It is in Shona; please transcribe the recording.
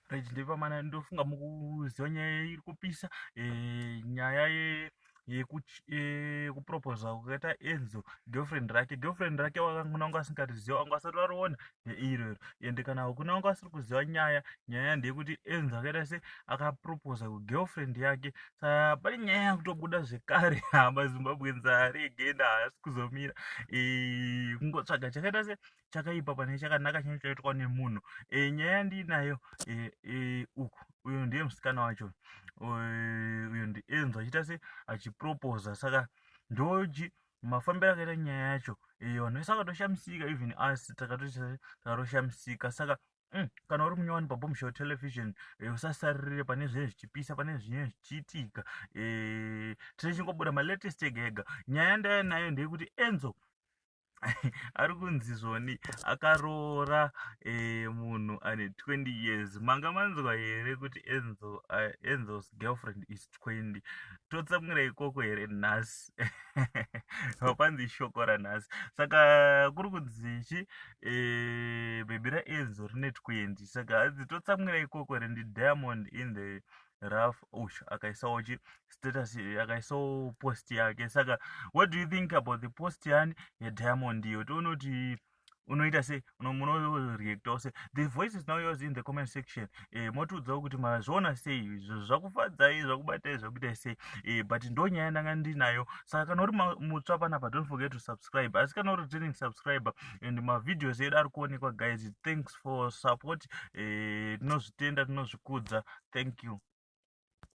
right ndepamana ndofunga mukuziva nyaya iri kupisa eh, nyaya ye yekuproposa eh, kukaita enzo girlfriend rake girlfriend rake wakangona wanga asingariziva wanga asati variona neiroro ende kana hakuna wanga asiri kuziva nyaya nyaya ndeyekuti enzo akaita se akaproposa kugirlfriend yake sa pane nyaya yakutobuda zvekare hama zimbabwe nzari again haasi kuzomira eh, kungotsvaga chakaita se chakaipa pane chakanaka chinenge chaitwa nemunhu e, nyaya yandinayo e, e, uku uyo ndiye musikana wacho uyo ndienzo achiita se achiproposa saka ndoji mafambiro akaita nyaya yacho e, vanhu vese vakatoshamisika even us takatoshamisika saka Mm, kana uri munyowani pabombshel television e, usasaririre pane zvinenge zvichipisa pane zvinenge zvichiitika e, tine chingobuda malatest ega ega nyaya ndaya nayo ndeyekuti enzo ari kunzi zvoni akaroora eh, munhu ane 20 years manga manzwa here kuti enzo uh, enzo's girlfriend is 20 totsamwira ikoko here nhasi vapanzi shoko ranhasi saka kuri kunzi chi eh, bhebhi raenzo rine 20 saka hanzi totsamwira ikoko here ndi diamond in the raf ush akaisawo chi status akaisawo post yake saka what do you think about the post yani yediamond iyo tione kuti unoita se unoreactawo se the voice is now yours in the comment section e, motiudzawo kuti mazviona sei zvakufadzai zvakubatai zvakuitai sei e, but ndo nyaya ndanga ndinayo saka kana uri mutsva panapa don't forget to subscribe asi kana uri returning subscriber and mavideos edu ari kuonekwa guys thanks for support eh, tinozvitenda tinozvikudza thank you